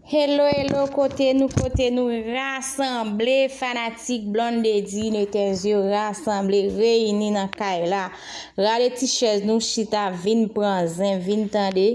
Hello hello kote nou kote nou rasanble fanatik blondedy netez yo rasanble reyini nan kay la rale ti chèz nou chita vin pran zen vin tande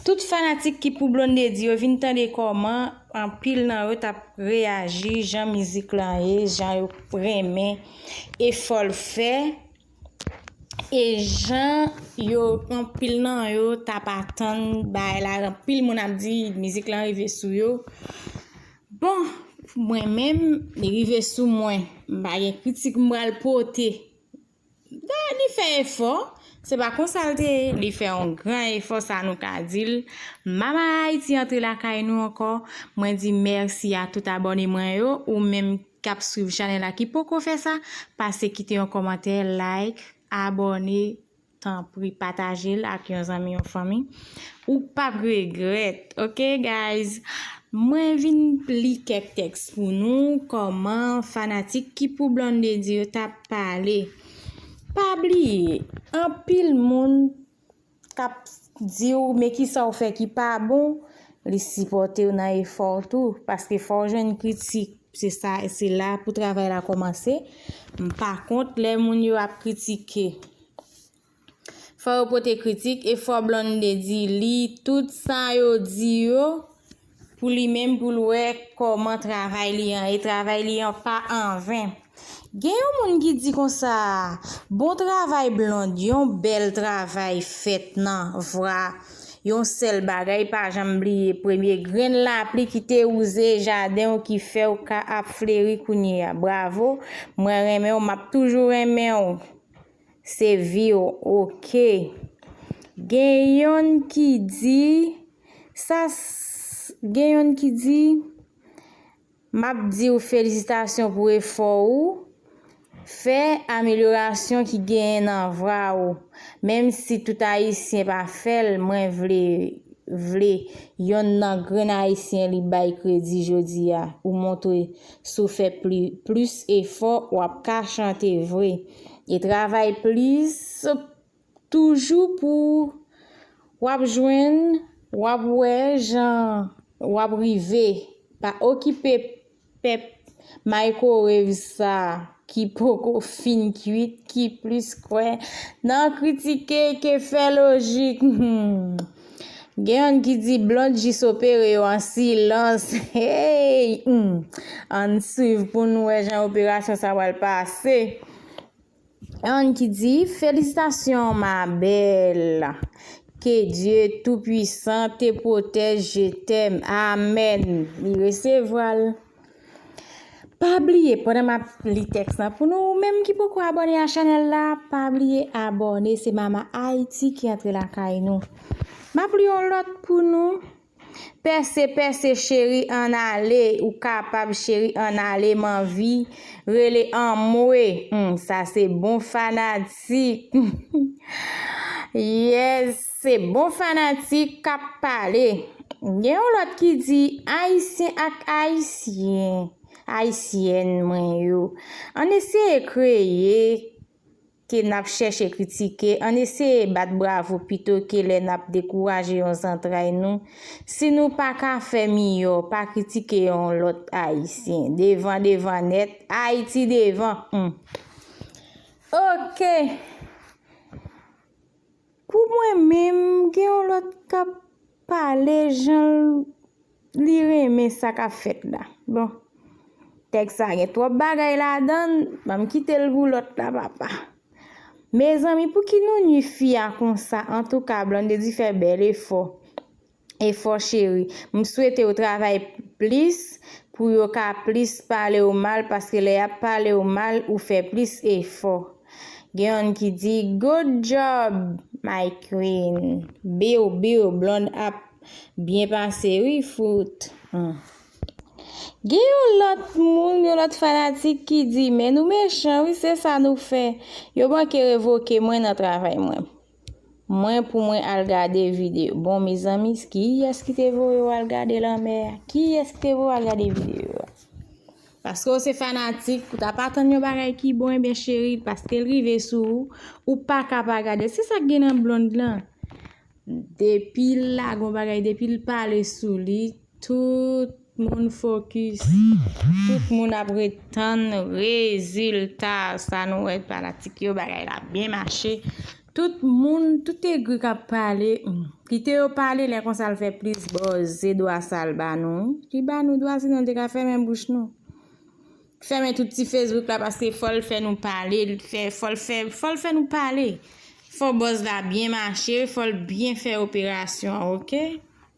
tout fanatik ki pou blondedy yo vin tande kòman anpil nan yo tap reyaji jan mizik lan ye jan yo renmen efòl fè E jan yo anpil nan yo tap atann bagay la anpil moun ap di mizik lan rive sou yo bon mwen menm li rive sou mwen m pa gen kritik m pral pote dan li fè efò se pa konsa l te ye li fè yon gran efò sa nou ka di l mama Haití antre lakay nou ankò mwen di mèsi a tout abòne mwen yo ou menm kap swiv chanèl la ki poko fè sa pase kite yon kòmantè like abòne tanpri patajel ak yon zanmi yon fanmi ou pap regrèt ok guys mwen vin li kèk tèks pou nou kòman fanatik ki pou Blondedy yo tap pale pa bliye anpil moun kap diw men kisaw fè ki pa bon li sipòtew nan efòw tou paske fòw jwenn kritik se sa se la pou travay la kòmanse m pa kont lè moun yo ap kritike fò yo pote kritik e fò Blonde di li tout sa yo di yo pou li menm pou l wè kòman travay li an e travay li an pa anven. Gen yon moun ki di konsa, bon travay Blonde yon bèl travay fèt nan vwa yon sèl bagay pa janm bliye premye grenn lapli ki te wouze jaden w ki fè w ka ap fleri kounye a bravo mwen renmen w map toujou renmen w. Se vi w ok. Gen yonn ki di sa Gen yonn ki di M ap di w felisitasyon pou efò ou fè amelyorasyon ki genyen nan vra ou menm si tout ayisyen pa fè l mwen vle vle yonn nan grenn ayisyen li bay kredi jodi a ou montre si w fè pli plis efò w ap ka chante vre. E travay plis toujou pou w ap jwenn, w ap wè jan w ap rive. Pa okipe pèp maykowev sa ki poko fin kuit ki plis kwè nan kritike ke fè lojik. Gen youn ki di blond jis opere yo an silans heyy humm ann swiv poun wè jan operasyon sa pral pase. Youn ki di felisitasyon ma belle ke Dye tou pwisan te pwotèj je t'aime amen li resevwal. Pa bliye pandan map li tèks la pou nou ou menm ki poko abòne a chanèl la pa bliye abòne se mama ayiti ki antre lakay nou map li yon lòt pou nou pèse pèse cheri an ale ou kapab cheri an ale m anvi rele anmwe sa se bon fanatik humm yes. Se bon fanatik kap pale. Gen yon lòt ki di Ayisyen ak Ayisyen, Ayisyèn mwen yo, ann eseye kreye ke n ap chèche kritike, ann eseye bat bravo pito ke lè n ap dekouraje yon zantray nou. Si nou pa ka fè miyò, pa kritike yon lòt Ayisyen. Devan devan nèt, Ayiti devan! Humm! Ok! Pou mwen menm gen yon lòt kap pale janl li renmen sa kap fèt la bon tèks sa gen twòp bagay ladann banm kitel pou lòt la papa mezanmi pouki nou nwi fi a konsa antouka Blondedy fè bèl efò efò cheri m swetew travay plis pou yo ka plis palew mal paske lè yap palew mal ou fè plis efò gen yonn ki di good job my queen biw biw blond ap byen pase wi fout m gen yon lòt moun yon lòt fanatik ki di men nou mechan wi se sa nou fè yo manke revoke mwen nan travay mwen. Mwen pou mwen al gade video. Bon mezanmi kiyes ki te voye ou al gade lanmè a? Kiyes ki te voye ou al gade video a? Paske ou se fanatik, ou ta pa tann yon bagay ki bon ebyen cheri, paske l rive sou ou, ou pa ka pa gade l. Se sa k gen nan Blonde lan. Depi l lage yon bagay, depi l pale sou li. Tout moun fokis. Tout moun ap ret tann rezilta. Sa nou wè fanatik yo bagay la ap byen mache. Tout moun, tout egri k ap pale. Kite yo pale lè konsa l fè plis buzz. Se dwa sa l ba nou wi. Li ba nou dwa sinon l te ka fèmen bouch nou. Fèmen tout ti Facebook la paske fò l fè nou pale. Fò l fè, fò l fè nou pale. Fò buzz la byen mache. Fò l byen fè operasyon an ok.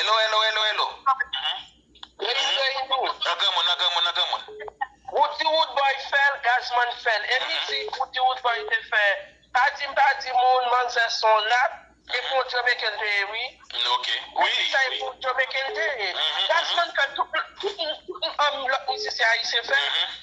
Elo elo elo elo. Reine Reine ou. Nan granmoun nan granmoun nan granmoun. Roody Roodboy fèl Gazzman fèl e li di Roody Roodboy te fè pa dim pa di moun manzè son rat e pou yon Jamaican te ye wi. Ok wi wi. Sa e pou yon Jamaican te ye. Gazzman fèl tout lòt mizisyen ayisyen fèl.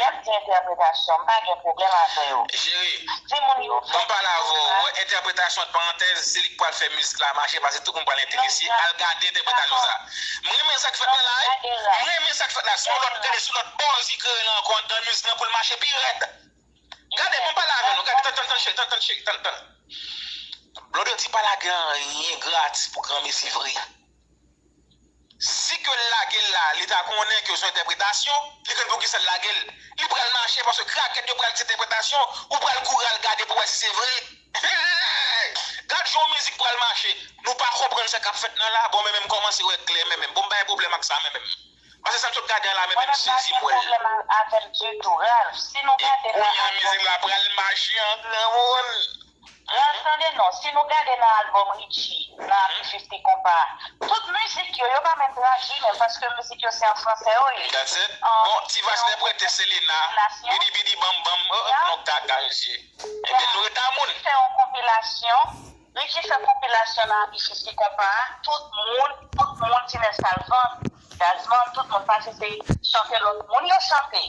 Yap di entèpretasyon m pa gen pwoblèm avè yo. Jere, Si moun yo fè. Mwen pale avè w, wè entèpretasyon ant parantèz se li k pral fè mizik la mache pase tout moun pral enterese al gade entèpretasyon sa. M renmen sa k fèt nan la wi, m renmen sa k fèt la son lòt gade son lòt bòz ki kreye nan ankò anndan mizik lan pou l mache pi rèd. Gade mwen pale avè nou gade tann tann cheri tann tann cheri tann tann. Blòdòti pa lage anyen gratis pou granmesi vre. Si ke l lage l la li ta konnen ke son entèpretasyon, li konn poukisa l lage l. Li pral mache paske krakèt yo pral di se entèpretasyon, ou pral kouri al gade pou wè si se vre. Hee! Gad jan yon mizik pral mache. Nou pa konprann sa kap fèt nan la? Bon men men m kòmanse wè klè men men. Bon m bay pwoblèm ak sa men men. Pase sa m sot gade an la men men m sezi m wè l. Mwen pa gen pwoblèm avè l ditou Ralph. Si nou gade l la. E kounya mizik la pral mache an gran moun. Ralph tande non, si nou gade nan album Richie, nan Abitus ni Konpa, tout mizik yo, yo pa menm tradwi menm paske mizik yo se an fransè yo ye. That's it. Bon, ti vas lè prete Selena, bidi bidi bam bam, oh oh nou gaga mesye. Ebyen nou ret a moun. Fè yon konpilasyon, Richie fè konpilasyon nan Abitus ni Konpa, tout moun, tout moun, Tinès al vann, Gazzman, tout moun pase se chante lòt moun yo chante.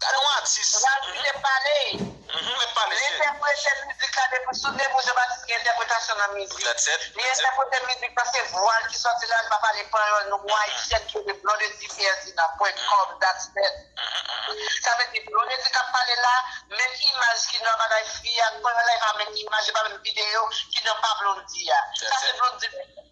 Gade yon atis. Radouri te pale. Li met pale se. Li entèprete mizik la depi sou de pou Jean-Baptiste gen entèpretasyon nan mizik. Tèt sèt. Li entèprete mizik lan se vwa l ki sòti la li pa pale panyòl nou gon ayisyèn ki rele Blondedy Ferdinand pwent kòm dat sèt. Sa vle di Blondedy k ap pale la menm imaj ki nan bagay fi a ak panyòl la e pa menm imaj e pa menm videyo ki nan pa Blondy a. Sa se Blondy menm.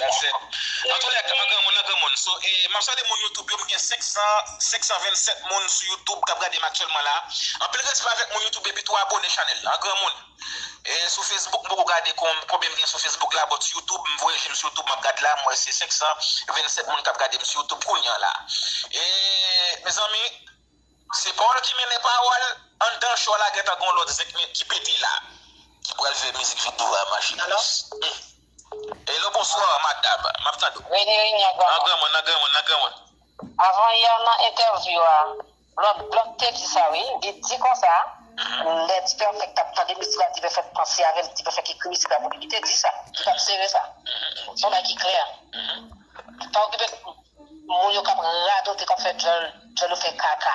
That's it. Nan tou lè ka granmoun nan granmoun. So e map salye moun YouTube yo m gen 500 527 moun sou YouTube kap gadem aktyèlman la. Anpil respè avèk moun YouTube epi tou abone chanèl la granmoun. E sou Facebook m poko gade konbyen m gen sou Facebook la but YouTube m voye jem sou YouTube map gad la m wè se 527 moun kap gadem sou YouTube kounya la. E mezanmi se pawòl ki mennen pawòl anndan show a la gentan gon lòt zenk ki pete la ki pral fè mizik video a mache. Hello bonsoir madam map tande w nan granmoun nan granmoun nan granmoun. Avan yè nan entèvyou a blòd blòd te di sa wi li di konsa lè Dipèfèk tap tande misik la Dipèfèk panse avèl Dipèfèk ekri misik la pou li li te di sa li tap sere sa son bagay ki klè pa okipe moun yo kap radote kap fè djòl djòl yo fè kaka.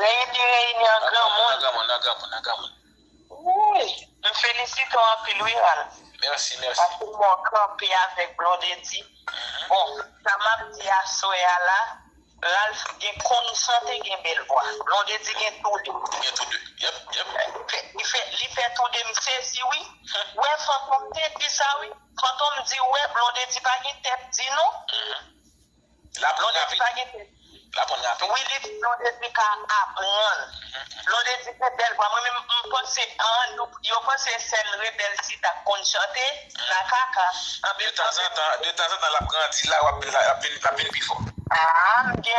Lè yo di reyinyon an granmoun. Nan granmoun, nan granmoun, nan granmoun. Wouyy! M felisite w anpil wi Ral. Mèsi, mèsi. Paske m wè w kanpe avèk Blondedy. Bon, sa m ap di aswè a la, Ralph gen konn chante e gen bèl vwa. Blondedy gen tou de. Li gen tou de. Yep, yep. Li fè, li fè tou de. M sezi wi. Ou wè Fantom te di sa wi. Fantom di ou wè Blondedy pa gen tèt di non. La blondedy pa gen tèt. La konn rape. Wi li di blondedy ka apranl. Blondedy gen bèl vwa mwen menm m panse an nou yo panse sèl rebèl si tap konn chante la kaka anben anben. De tanzantan lap grandi la wap vin lap vin pi fò. Aah m gen